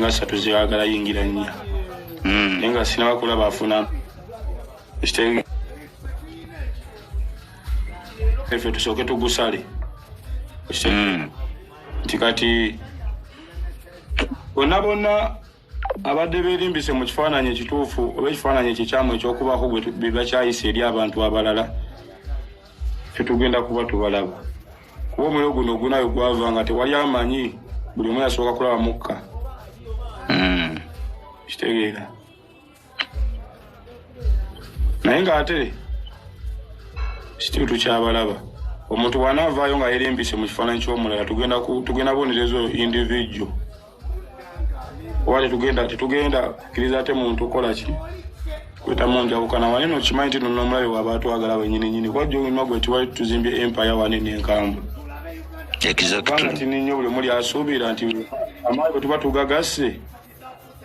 nga satu zeyagala yingira nnya hmm. naye nga sinabakula bafuna efe tusooke tugusale hmm. nti kati bonna bonna abadde berimbise mu kifaananyi ekituufu oba ekifaananyi ekikyamu ekyokubaako bebakyayisa eri abantu abalala fetugenda kuba tubalaba kuba omuliro guno ogunayo gwava nga tewali amanyi buli omu yasooka kulaba mukka hmm. kitegeera naye ng'ate situtu kyabalaba omuntu bw'anaavaayo nga yerimbise mu kifaananyi ky'omulala tugenda bonerezo individual oba tetugenda tetugenda kkiriza ate muntu kola ki kweta munjawukana wane nokimanyi nti nona omulabe waba atwagala wenyininyini kuba jomima gwe tiwali tuzimbye empire wane nenkambwe kubanga tini nnyo buli omuli asuubira nti amaali bwe tuba tugagasse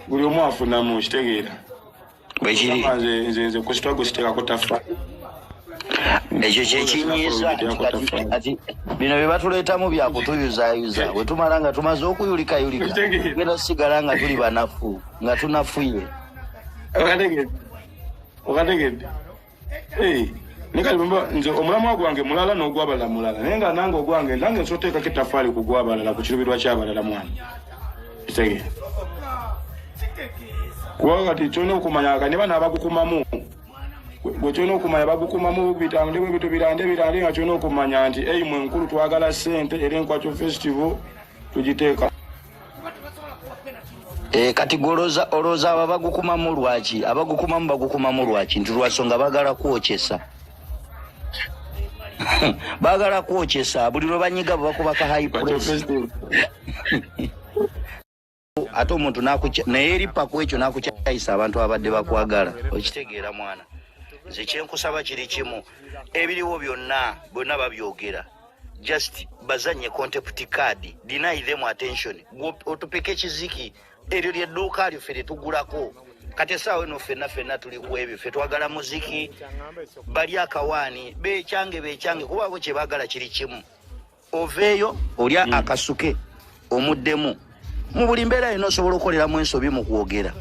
buli omu afunamu okitegeera bwekiri nze nze ku sitwago siteekako tafa ekyo kyekinyiiza kati bino bye batuleetamu bya kutuyuzayuza bwe tumala nga tumaze okuyulikayulika genda tusigala nga tuli banafu nga tunafuye okategedde okategedde Hey, naye kati bamba nze omulamwa gwange mulala n'ogwabalala mulala naye nga nange ogwange nange nsobola oteekako ettafaali ku gwabalala ku kirubirwa kyabalala mwana kitegee kuba kati kyolina okumanya ka niba nabagukumamu gwe kyolina okumanya bagukumamu bitambule bwe bitu birande birande nga kyolina okumanya nti eyi mwe nkulu twagala ssente era enkwakyo festival tugiteeka E, kati goloza oloza aba bagukumamu lwaki abagukumamu bagukumamu lwaki nti lwasonga bagala kwokyesa bagala kwokyesa buli lwebanyiga bwebakubaka high press ate omuntu naye eripaku ekyo nakukyayisa abantu abadde bakwagala okitegeera mwana nze kyenkusaba kiri kimu ebiriwo byonna byonna babyogera just bazanye contempt card deny them attention otupeka ekiziki eryo lyedduuka lyo ffe lyetugulako kati esaawa eno fenna fenna tuli ku ebyo ffe twagala muziki bali akawaani bekyange bekyange kuba abo kyebagala kiri kimu oveeyo olya mm. akasuke omuddemu mu buli mbeera yona osobola okukoleramu ensobi mu kwogera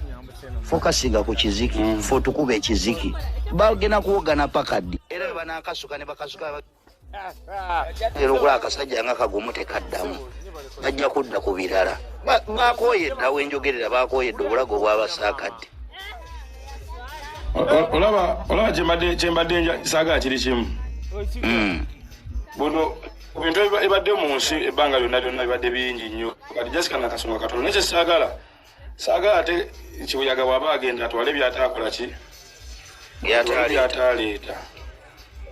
fokasinga ku kiziki mm. fe otukuba ekiziki bagenda kuwogana pakaddi era webanakasuka ne bakasuka era okula akasajja nga kagumu tekaddamu bajja kudda ku birala bakoyedde awo enjogerera bakoyedde obulago bwabasaakadde olaba olaba kyembadde saagala kiri kimu hmm. buno ebintu ebibadde mu nsi ebbanga lyonna lyonna bibadde bingi nnyo kati jasika nakasonga katonda naye kyesaagala saagala ate kibuyaga bwaba agenda atwale byataakola ki byataaleeta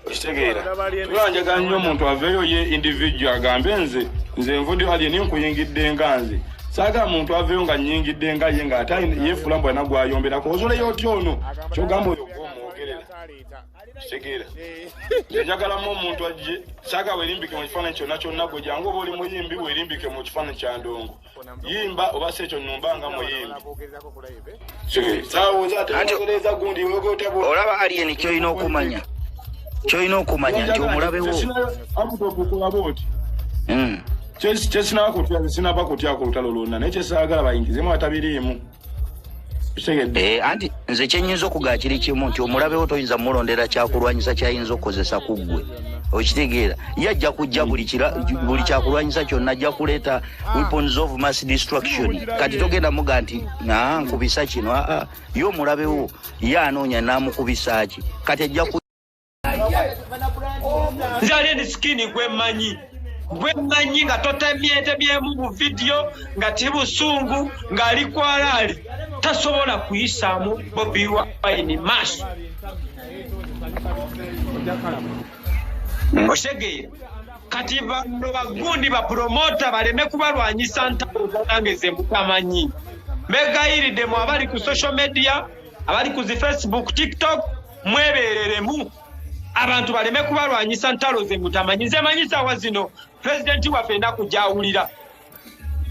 okitegeera tulanjaga nnyo omuntu aveeyo ye individual agambe nze nze nvudi ali ni nkuyingidde nga nze saaga muntu aveeyo nga nyingidde nga ye nga ate yefuula mbu alina gwayomberako ozoleyo otya ono kyogamba oyo gwomwogerera kitegeera njagalamu omuntu ajje saaga werimbike mu kifaananyi kyonna kyonna gwe jangu oba oli muyimbi werimbike mu kifaananyi kya ndongo yimba oba si ekyo numba nga muyimbiolaba alien kyolina okumanya kyolina okumanya nti omulabewo kyesinakutya sinaba kutya ku lutalo lwonna naye kyesaagala bayingizemu atabiriimu Eh, anti nze kyenyinza okugaa kiri kimu nti omulabewo toyinza mulondera kyakulwanyisa kyayinza okukozesa ku ggwe okitegeera ye ajja kujja buli kyakulwanyisa kyonna ajja kuleeta weapons of mass destruction kati togenda muga nti aa nkubisa kino aa ye omulabewo ye anoonya namukubisa ki kati ajja nzali eni sikini gwemanyi gwemanyi nga totemyetemyemu buvidiyo nga ti busungu ng'ali kwalaali tasobola kuyisaamu bobi wine maaso osegeera kati bano bagundi bapromota baleme kubalwanyisa ntaange zemutamanyi begayiridemu abali ku social media abali ku zi facebook tiktok mwebereremu abantu baleme kubalwanyisa ntalo ze mutamanyi nze manyi sawa zino pulezidenti waffe enaku gyawulira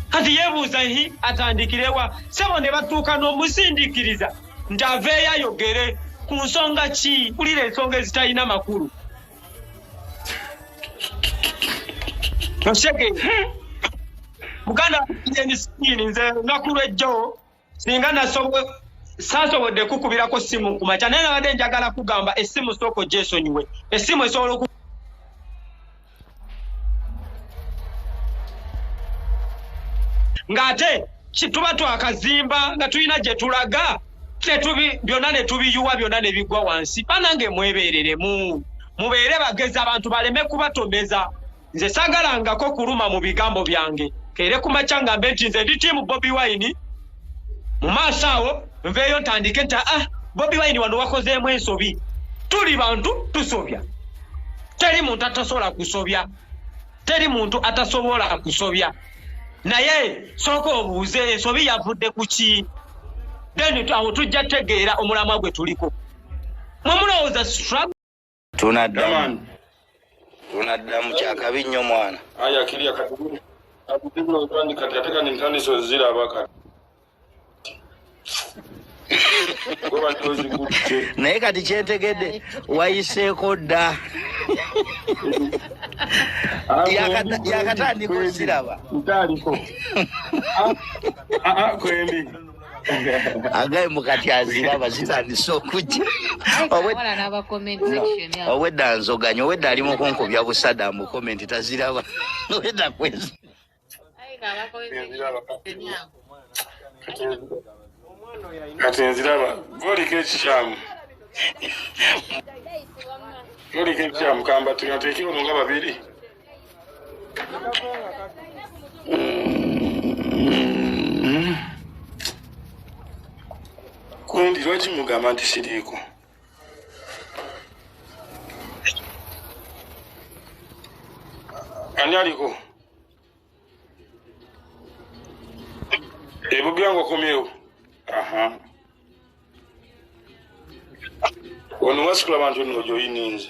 kati yebuuza hi atandikirewa sebo ne batuuka n'omusindikiriza nti aveeyo ayogere ku nsonga ki kulira ensonga ezitalina makulu osege muganda yenisiini nze nakulwejjo singa saasobodde kukubirako ssimu ku makya naye nabadde njagala kugamba essimu sooka ogyesonyiwe essimu esobola oku ng'ate tuba twakazimba nga tulina gye tulaga tetubi byonna ne tubiyuwa byonna ne bigwa wansi banange mwebeereremu mubeere bagezi abantu baleme kubatomeza nze sagalangako kuluma mu bigambo byange kere ku makya ngambe nti nze ndi tiimu bobi wine mu maaso awo nveeyo ntandike nti ah bobi wine wano wakozeemu ensobi tuli bantu tusobya teri muntu atasobola kusobya teri muntu atasobola kusobya naye sooka obuuze ensobi yavudde ku ki then awo tujja tegeera omulamwa gwe tuliko mwemulowooza tunaddamu tunaddamu kyakabi nnyo mwana aya kirya kati kati ate kani ntandise oziraba kati naye kati kyetegedde wayiseeko dda yakatandika osiraba ntaliko ah, ah, ah, kwendi agaye mukati aziraba zitandise okujja owedda nzoganya owedda ali mukunkubya busada mu komenti taziraba owedda kwezi kati nziraba goliko ekikyamu goliko ekikyamu kamba tuyateekiwo nga babiri kundi lwaki mugamba nti siriiko ani aliko ebubyango komyewo aha ono wasikula bantu nno gyoyininze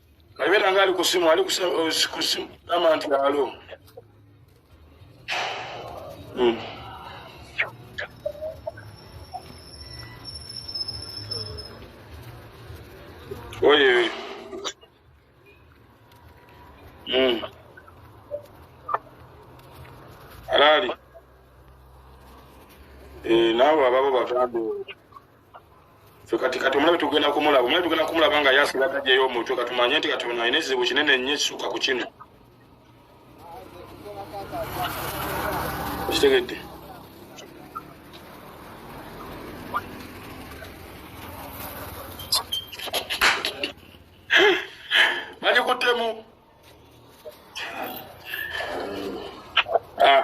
Nabeera nga ali ku simu ali ku simu nama nti alo hmm. oye hmm. alaali eh, naabo ababo bagambe kati kati omulabe tugenda kumulaba omulabe tugenda kumulaba nga yasira tajjayo omutwe katumanye nti kati ono alina ekizibu kinene nnyo ekisuka ku kino okitegedde bagikuttemu ah.